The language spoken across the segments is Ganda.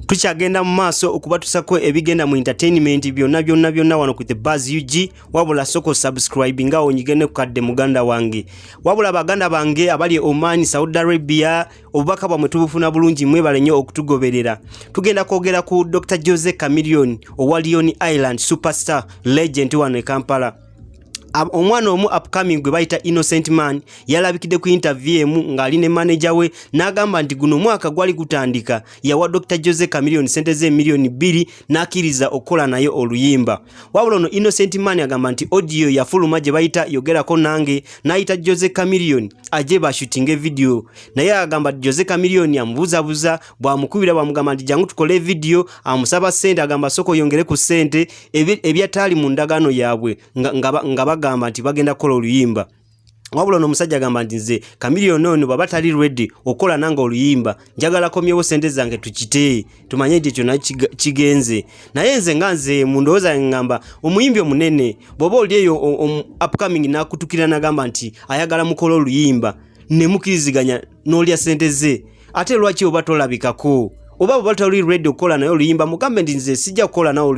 tukyagenda mu maaso okubatusako ebigenda mu entertainment byonna byonna byonna wano ku the buzz ug wabula soko subscribe nga onyige ne kukadde muganda wange wabula baganda bange abali e oman saudi arabia obubaka bwamwe tubufuna bulungi mwebale nnyo okutugoberera tugenda kwogera ku dr jose camillion owa leon island superstar legend wano e kampala omwana omu upcoming gwe bayita innocent man yalabikidde ku interview emu ng'ali ne maneja we n'agamba nti guno omwaka gwali gutandika yawa dr jose camilion sente z'emiliyoni bbiri n'akkiriza okukola naye oluyimba wabula ono innocent man agamba nti audio yafuluma gye bayita yogerako nange n'ayita jose camilion aje bashutinge vidiyo naye agamba jose camilion amubuzabuza bwamukubira bwamugamba nti jangu tukole vidiyo amusaba sente agamba soko yongere ku sente ebyataali mu ndagaano yaabwe nga bagamba nti bagenda kukola oluyimba wabula ono omusajja agamba nti nze kamiliyoni ono bwaba tali redi okukola nange oluyimba njagala komyewo sente zange tukite tumanye nti kyona kigenze naye nze nga nze mu ndowooza yange ngamba omuyimbi omunene bw'oba oli eyo upcoming nakutukira nagamba nti ayagala mukola oluyimba nemukiriziganya n'olya sente ze ate lwaki oba tolabikako oba bwebali tali ready okukola naye oluyimba mugambe nti nze sijja kukola nawe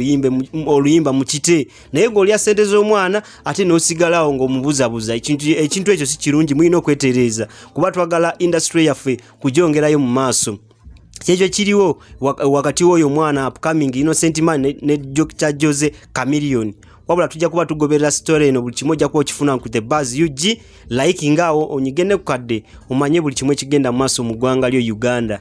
oluyimba mukite naye ng'olya sente z'omwana ate n'osigalawo ng'omubuzabuza ekintu ekyo si kirungi mulina okwetereeza kuba twagala indasitule yaffe kugyongerayo mu maaso kyekyo kiriwo wakati woyo omwana upcoming innocent man ne, ne kya jose camilion wabula tujja kuba tugoberera story eno buli kimu ojja kuba okifuna ku the bas ug like ngaawo onyige ne kukadde omanye buli kimu ekigenda mu maaso mu ggwanga lyo uganda